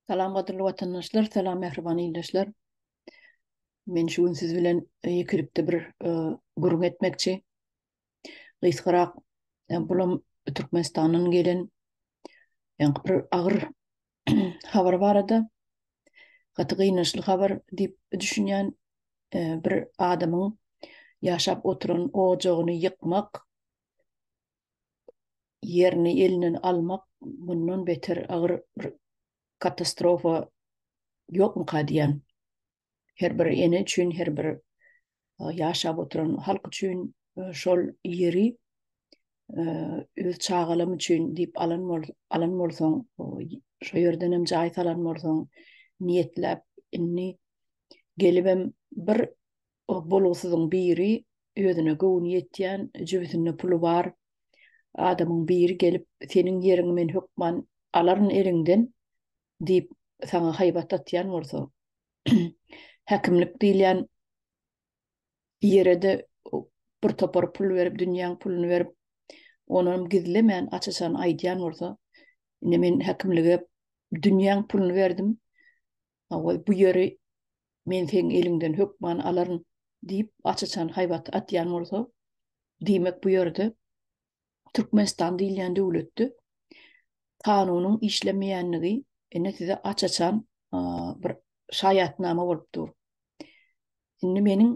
Salam gadyrly watandaşlar, salam mähriban ildeşler. Men şu gün siz bilen e, ýekelikde bir e, gürrüň etmekçi. Gysgarak, e, bulam Türkmenistandan gelen ýaňky bir agyr habar barada. Gaty gynançly habar diýip düşünýän bir adamyň ýaşap oturan ojagyny ýykmak ýerini elinden almak mundan beter agyr bir katastrofa ýokmyka diýýän. Her bir ene üçin, her bir ýaşap oturan halk üçin şol ýeri öz çagalam üçin diýip alan alan bolsaň, şo ýerden hem jaý salan bolsaň, niýetläp, indi gelibem bir O bolgusyzyň biri özüne göwni ýetýän, jübüsinde puly bar adamyň biri gelip, seniň ýeriňi men hökman alaryn eliňden diýip, saňa haýbat atýan bolsa, häkimlik diýilýän ýere-de bir topar pul berip, dünýäň puluny berip, onam gizlemän, aç-açan aýdýan bolsa, indi men häkimlige dünýäň puluny berdim, Hawa, bu ýeri men seň eliňden hökman alaryn diýip, aç-açan haýbat atýan bolsa, diýmek bu ýerde Türkmenistan diýilýän döwletde kanunyň işlemeýänligi ine size aç-açan bir şaýatnama bolup dur. Indi meniň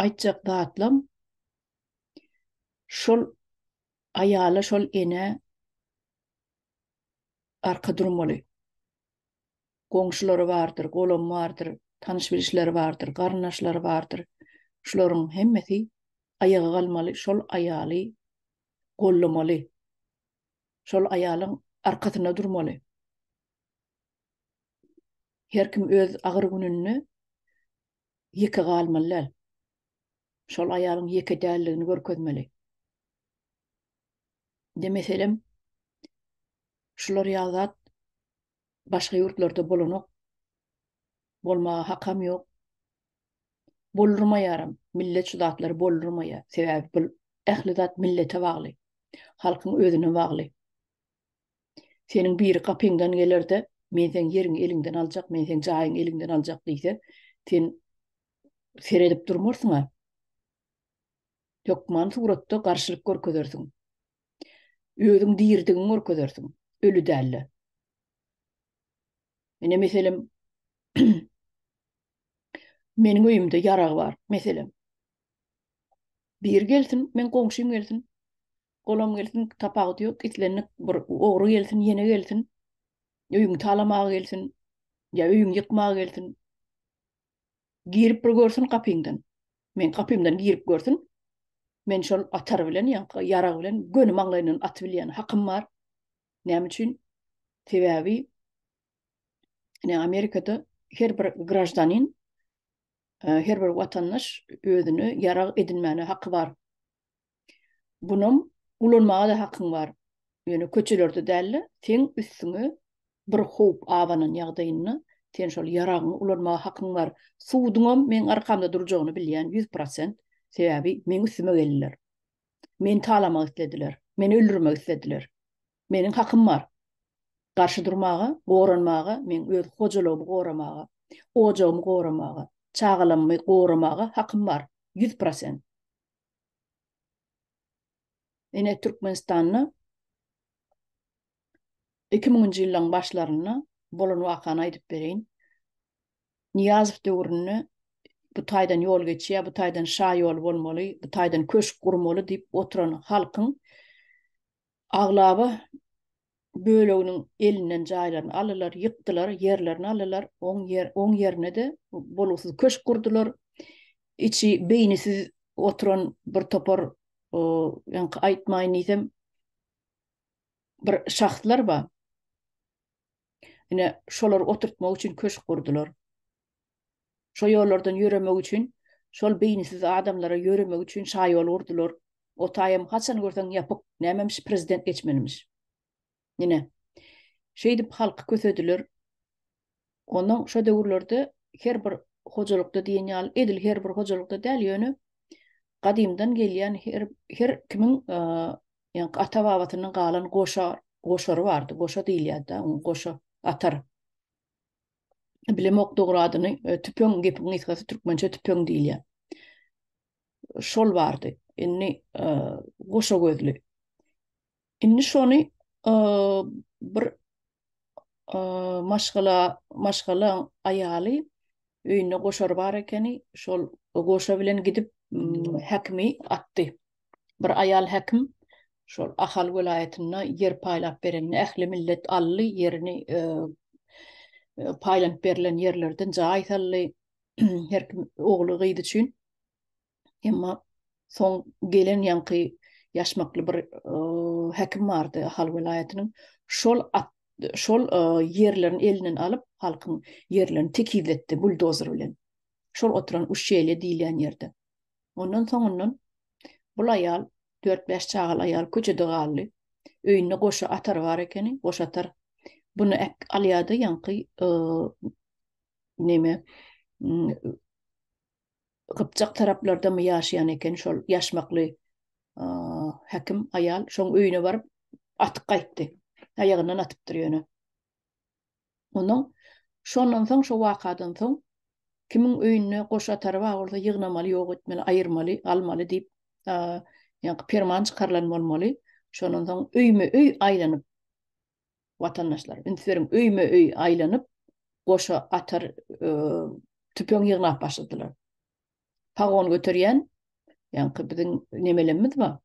aýtjak zatlam şol aýala, şol enä arka durmaly. Goňşulary bardyr, golamy bardyr, tanyş-bilişleri bardyr, garyndaşlary bardyr. Şularyň hemmesi aýaga galmaly, şol aýaly gollamaly. Şol aýalyň arkasynda durmaly. Her kim öz agyr gününde ýeke galmaly däl. Şol aýalyň ýeke däldigini görkezmeli. Indi meselem, şular ýaly zat başga ýurtlarda bolanok, bolmaga hakam ýok. Boldurmaýaram, millet şu zatlary boldurmaýar. Sebäbi bu ähli zat millete bagly, halkyň özüne bagly. Seniň biri gapyňdan gelerde, men seň ýeriňi eliňden aljak, men seň jaýyňy eliňden aljak diýse, sen seredip durmarsyň-a. Hökman suratda garşylyk görkezersiň. Özüň diridigiň görkezersiň, öli dälle. Ine meselem Meniň öýümde ýarag bar, meselem. Biri gelsin, men goňşym gelsin. Golam gelsin, tapawudy ýok, islendik bir ogry gelsin, ýene gelsin. Öýüňi talamaga gelsin, ýa öýüňi ýykmaga gelsin. Girip bir görsün gapyňdan. Men gapymdan girip görsün. Men şol atar bilen, ýa-da ýarag bilen göni maňlaýyndan atyp bilýän hakym bar. Näme üçin? Sebäbi ine Amerikada her bir graždanin, e, her bir watandaş özüne ýarag edinmäne haky bar. Bunam ulanmaga-da hakyň bar. Ýöne köçelerde däl-de, seň üstüňe bir howp abanan ýagdaýynda sen şol ýaragyňy ulanmaga hakyň bar. Suduňam meň arkamda durjagyny bilýän ýüz prosent. Sebäbi meň üstüme geldiler. Meni talamak islediler. Meni öldürmek islediler. Meniň hakym bar. Garşy durmaga, goranmaga, meň öz hojalygymy goramaga, ojagymy goramaga, çagalammy goramaga hakym bar. Ýüz prosent. Ine Türkmenistanda iki müňünji ýyllaryň başlarynda bolan wakany aýdyp bereýin. Nyýazow döwründe bu taýdan ýol geçýär, bu taýdan şaýol bolmaly, bu taýdan köşk gurmaly diýip oturan halkyň Aglaba böleginiň elinden jaýlaryny alylar, ýykdylar, ýerlerini alylar, oň ýerine-de bolgusyz köşk gurdular. Içi beýnisiz oturan bir topar, ýaňky aýtmaýyn diýsem, bir şahslar bar. Ine, şolary oturtmak üçin köşk gurdular. Şo ýollardan ýöremek üçin, şol beýnisiz adamlara ýöremek üçin şaýol gurdular. O taýam haçan görseň ýapyk, nämemiş prezident geçmelimiş. Ine, şeýdip halky kösediler. Onnoň şo döwürlerde her bir hojalykda diýen ýaly, edil her bir hojalykda däl, ýöne gadymdan gelýän her her kimiň ýaňky ata-babasyndan galan goşa goşary bardy. Goşa diýilýärdi-dä, goşa atar. Bilim ok dogry adyny e, tüpeň gepiň gysgasy türkmençe tüpeň diýilýär. Şol bardy. Indi e, goşa gözli. Indi şony e, bir e, maşgala maşgala aýaly öýünde goşary bar ekeni. Şol goşa bilen gidip häkimi atdy. Bir aýal häkim şol Ahal welaýatynda ýer paýlap berende ähli millet aldy, ýerini paýlanyp berlen ýerlerden jaý saldy, her kim ogly, gyzy üçin. Emma soň gelen ýaňky ýaşmakly bir häkim bardy Ahal welaýatynyň. Şol şol ýerlerini elinden alyp, halkyň ýerlerini tekizletdi buldozer bilen. Şol oturan uşşeýle diýilýän ýerde. Ondan soňundan bul aýal dört-bäş çagaly aýal köçede galdy. Öýünde goşa atary bar ekeni, goşa atar. Buny alýar-da ýaňky neme gypjak taraplardamy ýaşaýan eken şol ýaşmakly häkim aýal. Şoň öýüne baryp atyp gaýtdy. Aýagyndan atypdyr ýöne. Onuň şondan soň, şo wakadan soň kimiň öýünde goş atary bar bolsa ýygnamaly, ýok etmeli, aýyrmaly, almaly diýip ýaňky perman çykarylan bolmaly. Şondan soň öýme-öý aýlanyp, watandaşlar, üns beriň, öýme-öý aýlanyp, goşa atar, tüpeň ýygnap başladylar. pagon göterýän, ýaňky biziň nemelemmiz bar,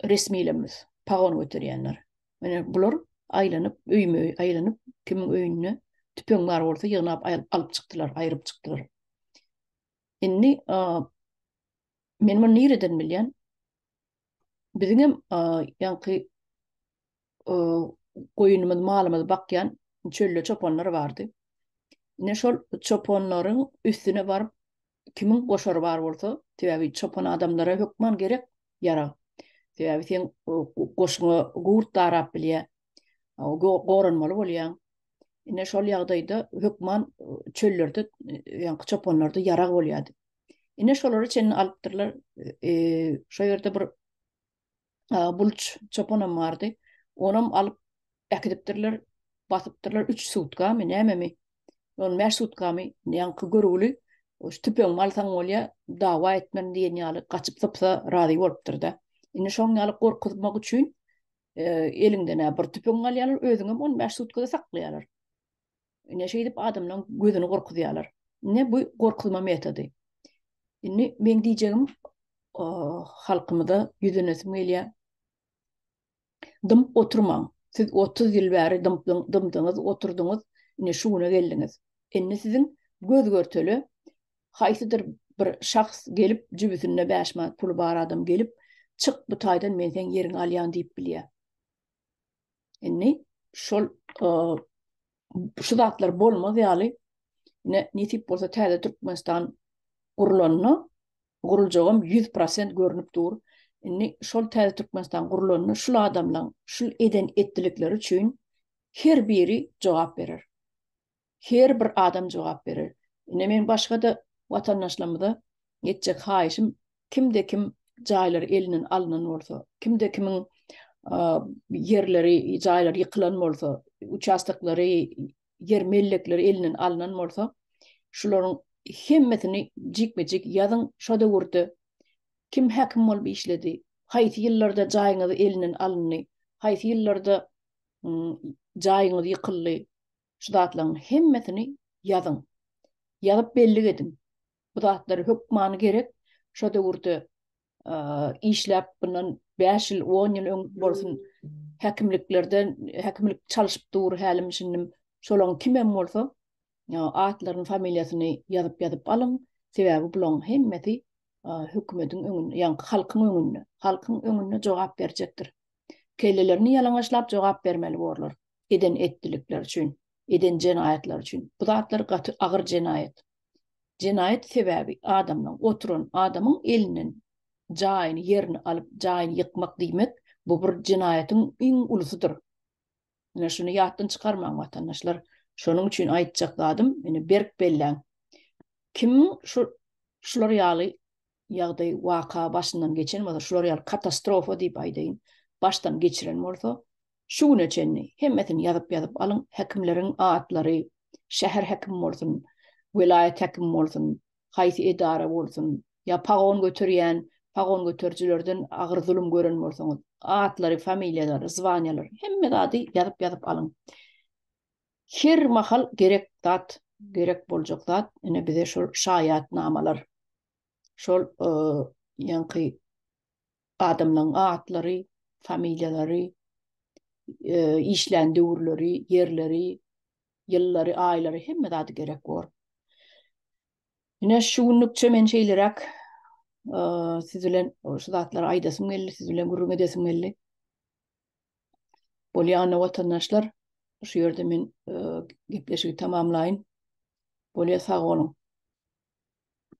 resmilemmiz, pagon göterýänler. Mine bular aýlanyp, öýme öý aýlanyp, kimiň öýünde tüpeň bar bolsa ýygnap alyp çykdylar, aýryp çykdylar. Indi men muny nireden bilýän? Biziň hem ýaňky goýunymyzy, malymyzy bakýan çölde çopanlar bardy. Ine şol çopanlaryň üstüne baryp kimiň goşary bar bolsa, sebäbi çopan adamlara hökman gerek ýarag. Sebäbi sen goşuna gurt darap bilýär. Goranmaly bolýaň. Ine şol ýagdaýda hökman çöllerde ýaňky çopanlarda ýarag bolýardy. Ine şolary çenli alypdyrlar. E, şo ýerde bir e, bulç çopanam bardy. Onam alyp äkidipdirler, basypdyrlar 3 sutkamy, nämemi? Ol 5 sutkamy, ýaňky görgüli şu tüpeň malsaň bolýa, dawa etmen diýen ýaly gaçyp sypsa razy bolupdyr da. Indi şoň ýaly gorkuzmak üçin e, eliňden bir tüpeň alýarlar, özüňem 15 sutkada saklaýarlar. Ine şeýdip adamlaryň gözüni gorkuzýarlar. Ine bu gorkuzma metody. Indi men diýjegim halkymyza ýüzünesim gelýär. Dymyp oturmaň. Siz 30 ýyl bäri dymdyň, dymdyňyz, oturdyňyz, indi şu güne geldiňiz. Indi siziň göz görtele haýsydyr bir şahs gelip, jübüsinde 5 manat puly bar adam gelip, çyk bu taýdan men seň ýeriňi alýan diýip bilýär. Indi şol şu zatlar bolmaz ýaly ne nesip bolsa täze Türkmenistan gurulanda guruljagam 100% görnüp dur. Indi şol täze Türkmenistan gurulanda şul adamlaryň şul eden etdilikleri üçin her biri jogap berer. her bir adam jogap berer. Ine meň başga-da watandaşlarymyza etjek haýyşym, kimde kim jaýlary elinden alnan bolsa, kimde kimiň ýerleri, jaýlary ýykylan bolsa, uçastoklary, ýer mellekleri elinden alnan bolsa, şularyň hemmesini jikme-jik ýazyň, şo döwürde kim häkim bolup işledi, haýsy ýyllarda jaýyňyz elinden alyndy, haýsy ýyllarda jaýyňyz ýykyldy, Şu zatlaryň hemmesini ýazyň. Ýazyp bellik ediň. Bu zatlar hökmany gerek. Şo döwürde işläp, bundan bäş ýyl, on ýyl öň bolsun, häkimliklerde häkimlik çalyşyp dur hälim-şindim. Şolaryň kim hem bolsa, atlaryny, familiýasyny ýazyp-ýazyp alyň. Sebäbi bularyň hemmesi hökümetiň öňünde, ýagny halkyň öňünde, halkyň öňünde jogap berjekdir. Kellelerini ýalaňaçlap jogap bermeli borlar. eden etdilikleri üçin, eden jenaýatlary üçin. Bu zatlar gaty agyr jenaýat. Jenaýat sebäbi adamdan, oturan adamyň elinden jaýyny, ýerini alyp, jaýyny ýykmak diýmek, bu bir jenaýatyň iň ulusydyr. Ine, şuny ýatdan çykarmaň, watandaşlar. Şonuň üçin aýtjak zadym, ine, berk belläň. Kim şu şular ýaly ýagdaý, waka başyndan geçen bolsa, şular ýaly katastrofa diýip aýdaýyn, başdan geçiren bolsa, şu güne çenli hemmesini ýazyp-ýazyp alyň, häkimleriň atlary, şäher häkimi bolsun, welaýat häkimi bolsun, haýsy edara bolsun, ýa pagon göterýän, pagon göterijilerden agyr zulum gören bolsaňyz, atlary, familiýalary, zwanýalary, hemme zady ýazyp-ýazyp alyň. Her mahal gerek zat, gerek boljak zat, ine bize şol şaýatnamalar. şol ýaňky adamlaryň atlary, familiýalary, işlän döwürleri, ýerleri, ýyllary, aýlary hemme zady gerek bor. Ine şu günlükçe men şeýleräk siz bilen şu zatlary aýdasym geldi, siz bilen gürrüň edesim geldi. Bolýana watandaşlar, şu ýerde men gepleşigi tamamlaýyn. Bolýa sag boluň.